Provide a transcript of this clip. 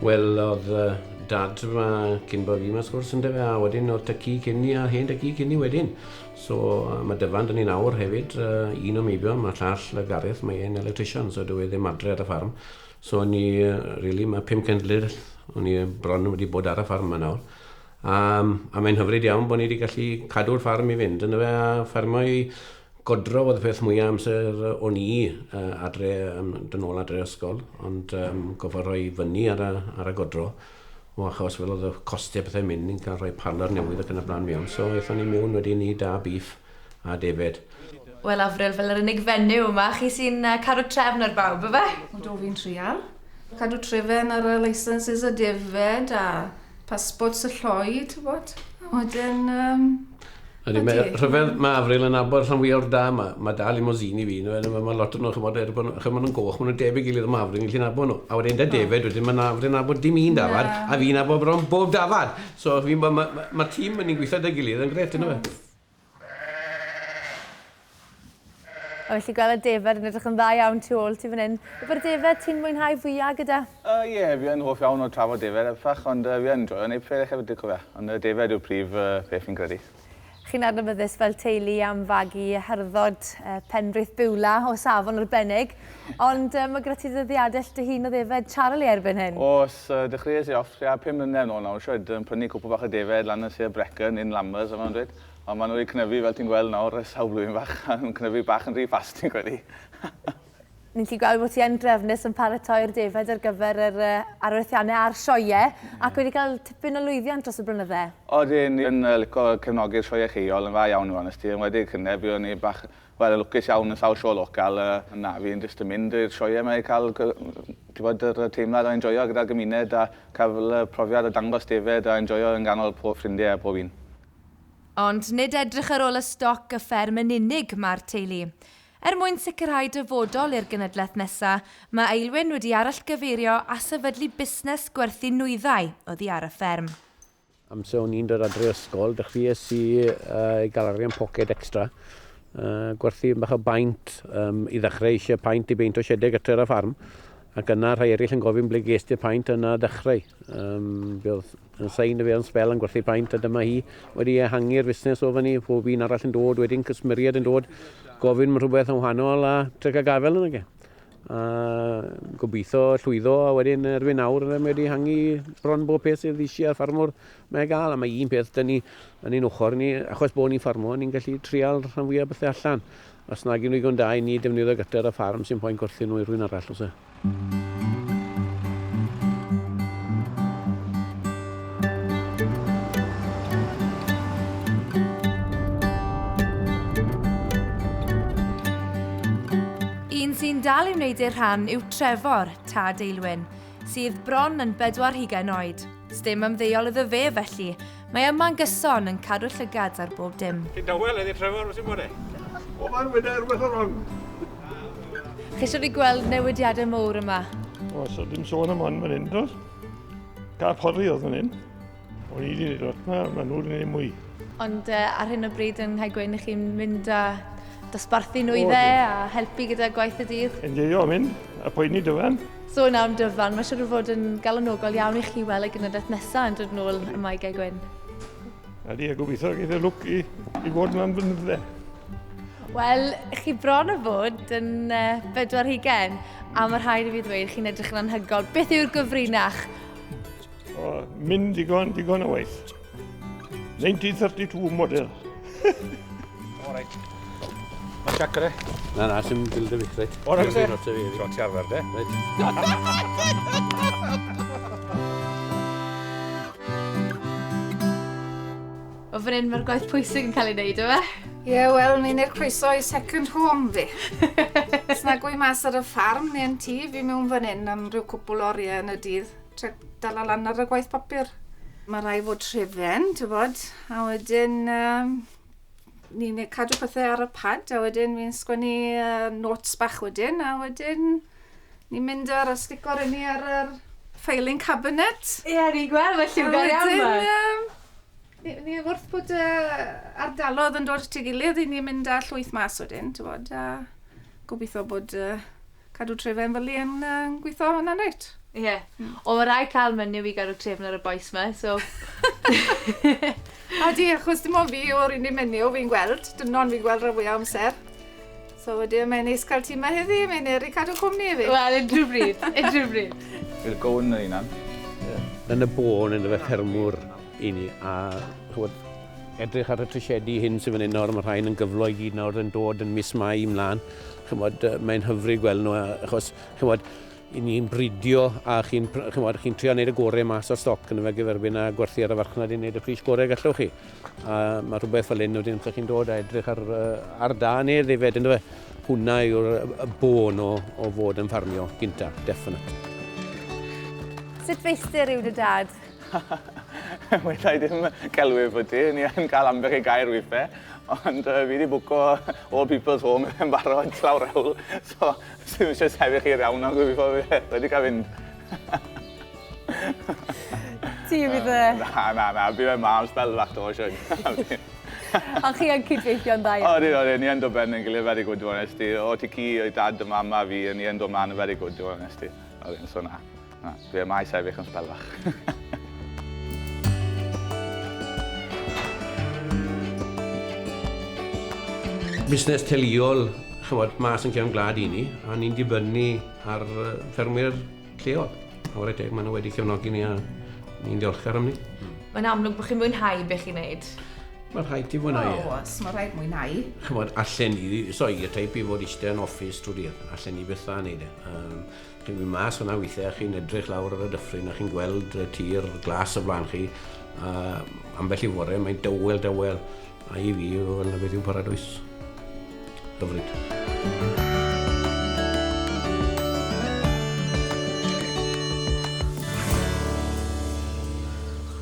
Wel odd yy dad ma cyn bo fi ma wrth gwrs ynde fe a wedyn odd tŷ ci cyn ni a hen dŷ ci cyn ni wedyn so yy ma Dyfan da ni nawr hefyd yy un o Meibion ma llall yy Gareth mae e'n electrician so dyw e ddim adre ar y ffarm so o'n i yy rili ma pum cenedleth o'n i bron wedi bod ar y ffarm ma nawr a yym a mae'n hyfryd iawn bo ni di gallu cadw'r ffarm i fynd yndyfe a ffermio i Godro oedd y peth mwyaf amser o'n i adre, um, dyn ôl adre ysgol, ond um, goffa rhoi fyny ar y, ar y godro, o achos fel oedd y costau pethau mynd, ni'n cael rhoi parlor newydd ac yn y blaen mewn, so eithon ni mewn wedyn ni da bif a defed. Wel, Afril, fel yr unig fenyw yma, chi sy'n uh, caru trefn ar bawb, efe? O do, fi'n trial. Cadw trefn ar y licenses a defed a passport y lloi, ti'n bod? Wedyn, um, Ydy, mae rhyfedd, mae Afril yn abod rhan fwy o'r da, mae, mae da limosini fi, nhw, mae, mae lot o'n nhw, chymod, er bod chymod nhw'n goch, mae nhw'n debyg i gilydd, mae Afril yn gallu nabod nhw. A wedyn da David, oh. wedyn mae Afril yn abod dim un dafad, a fi'n abod bron bob dafad. So, mae ma, ma, ma tîm yn ni'n gweithio da gilydd yn gret, yna fe. A felly gwel y defaid yn edrych yn dda iawn tu ôl ti fan hyn. Beth yw'r defaid ti'n mwynhau fwya gyda? Yy ie fi yn hoff iawn o trafod defaid a phach ond yy fi yn joio neud pethau hefyd dwi'n cofio ond yy defaid yw'r prif yy peth fi'n credu. Chi'n adnabyddus fel teulu am fagu harddod yy Penrith Biwla o safon arbennig ond yy ma' gyda ti ddyddiadell dy hun o ddefed Charlie erbyn hyn. Oes yy dechreues i off tua pum mlynedd nôl nawr shwd yn prynu cwpwl bach o defaid lan yn Sir Brecon in Lammas a fel ma'n dweud Ond maen nhw wedi cnyfu fel ti'n gweld nawr ers sawl blwyddyn fach a nhw'n cnyfu bach yn rhy fast fi'n credu. Ni'n gallu gweld bod ti yn drefnus yn paratoi'r defaid ar gyfer yr uh, arwerthiannau a'r sioe, ac wedi cael tipyn o lwyddiant dros y blynydde. Odyn, ni yn uh, lico cefnogi'r sioe lleol yn dda iawn i fod yn wedi cynne, byddwn ni bach wel, yn lwcus iawn yn sawl sioe local uh, na fi'n jyst yn mynd i'r sioe yma i cael bod yr teimlad o enjoyo gyda'r gymuned a cael y profiad o dangos defed a enjoyo yn ganol pob ffrindiau a pob un. Ond nid edrych ar ôl y stoc y fferm yn unig mae'r teulu. Er mwyn sicrhau dyfodol i'r genedlaeth nesa, mae Eilwyn wedi arallgyfeirio a sefydlu busnes gwerthu nwyddau oddi ar y fferm. Amser o'n i'n dod adre o ysgol, dechreuais i gael arian poced extra, gwerthu bach o baent i ddechrau, eisiau paent i beint o siedeg y tŷ'r a ffarm, ac yna rhai eraill yn gofyn ble ges ti'r paent, yna ddechrau. Fe oedd Sa i'n dyfeo'n sbel yn gwerthu paent a dyma hi wedi ehangu'r fusnes o fan 'ny, pob un arall yn dod wedyn, cysmeried yn dod, gofyn am rhywbeth yn wahanol a tric a gafel yn age. A gobeithio llwyddo a wedyn erbyn nawr mae wedi hangu bron bob peth sydd eisiau ffarmwr mae gael a mae un peth dyn ni yn ein ochr ni achos bod ni'n ffarmwr ni'n gallu trial rhan fwyaf bethau allan. Os nag yn ddigon da i ni defnyddio gyter a ffarm sy'n poen gwerthu nhw i rhywun arall os e. Un sy'n dal i wneud ei rhan yw Trefor, tad Eilwyn, sydd bron yn bedwar hugain oed. Sdim ymddeol iddo fe felly. Mae yma'n gyson, yn cadw llygad ar bob dim. Ti'n dawel eddi Trevor, wyt ti'n bod e? O, mae'n wyda rhywbeth o rong. Chi eisiau fi gweld newidiadau mowr yma? O, so dim sôn am ond fan hyn, dos? Ca porri oedd fan hyn. O, ni wedi gwneud lot, mae nhw'n gwneud mwy. Ond uh, ar hyn o bryd yn rhaid gweud, chi'n mynd â Dosbarthu nhw i fe a helpu gyda gwaith y dydd. Enjoio am hyn, a poeni dyfan. Sôn am dyfan, mae siwr o fod yn galonogol iawn i chi weld y genedlaeth nesaf yn dod nôl ym Mae Gae Gwyn. Ydy, a gobeithio geith y lwc i, i fod yma'n fynydde. Wel, chi bron o fod yn uh, bedwar hugen, a mae rhaid i fi ddweud, chi'n edrych yn anhygol. Beth yw'r gyfrinach? O, mynd digon, digon o waith. 1932 model. o, reit. Mae'n siac gyda? Na, na, sy'n dilyd y fi, reit. O, reit. Ti'n ti arfer, de? Reit. O fan hyn mae'r gwaith pwysig yn cael ei wneud, yma? Ie, yeah, wel, ni'n eich croeso i second home fi. Sna gwy mas ar y ffarm neu'n tŷ fi mewn fan hyn am rhyw cwpl oriau yn y dydd. Trio dala lan ar y gwaith papur. Mae rai fod trefen, ti'n bod, a wedyn um, ni'n cadw pethau ar y pad, a wedyn fi'n sgwennu uh, notes bach wedyn, a wedyn ni'n mynd ar y sticor i ni ar yr filing cabinet. Ie, yeah, ni'n gweld, felly fi'n gweld iawn fe. Ni, ni wrth bod uh, ardalodd yn dod at ei gilydd, i ni'n mynd â llwyth mas wedyn, ti'n bod, a gobeithio bod uh, Cadw tref yn fyli yn um, gweithio hwnna'n reit. Ie. Yeah. Mm. O, mae rai cael mynd i gael y trefn ar y boes yma, so... a di, achos dim ond fi o'r unig menyw fi'n gweld, dynon fi'n gweld rhan fwyaf amser. So wedi, mae'n neis cael ti yma heddi, mae'n eri cadw cwmni i fi. Wel, unrhyw bryd, unrhyw bryd. We'll go yn yr unan. Yn y bôn, yn y fe ffermwr i ni, a chwod, edrych ar y trisiedi hyn sy'n fan hyn nawr, mae rhain yn gyflo i gyd nawr yn dod yn mis Mai ymlaen. Ch'mod, mae'n hyfryd gweld nhw, achos ch'mod, 'yn ni'n bridio a chi'n ch'mod, chi'n trio wneud y gorau mas o'r stoc yn fe gyferbyn a gwerthu ar y farchnad i wneud y pris gorau gallwch chi. A mae rhywbeth fel hyn wedyn chi'n dod a edrych ar, ar da neu ddefed, ynddo fe? Hwna yw'r y bôn o, o fod yn ffarmio gynta, definite. Sut feistr yw dy dad? Weda i ddim celwydd efo ti, ni yn cael ambell i gair withe, ond uh, fi wedi bwco all people's home yn barod llawr ewl, so sy'n eisiau sefyll i'r iawn ond fi wedi cael fynd. Ti fydd y... Na, na, na, fi fe ma am spel fach to, Sian. Ond chi yn cydweithio'n dda iawn? Oedden, oedden, ni yn dod ben yn gilydd very good, dwi'n honest i. O ti ci, o'i dad, y mama fi, ni yn dod man yn very good, dwi'n honest i. Oedden, so na. Na, dwi am a'i sefyll yn sbel fach. busnes teuluol chymod, mas yn cefn glad i ni, a ni'n dibynnu ar ffermwyr lleol. A wrth deg, maen nhw wedi cefnogi ni a ni'n diolchgar am ni. Hmm. Mae'n amlwg bod chi'n mwynhau beth chi'n neud. Mae'n rhaid ti mwynhau. O, e. os mae'n rhaid mwynhau. Chymod, allan ni, so i y teip i fod eistedd yn office trwy dydd, allan ni bethau yn neud e. Um, Chi'n mynd mas fanna weithiau a chi'n edrych lawr ar y dyffryn a chi'n gweld y tir glas o flaen chi a ambell i fore mae'n dawel dawel a i fi fel beth yw paradwys. Hyfryd.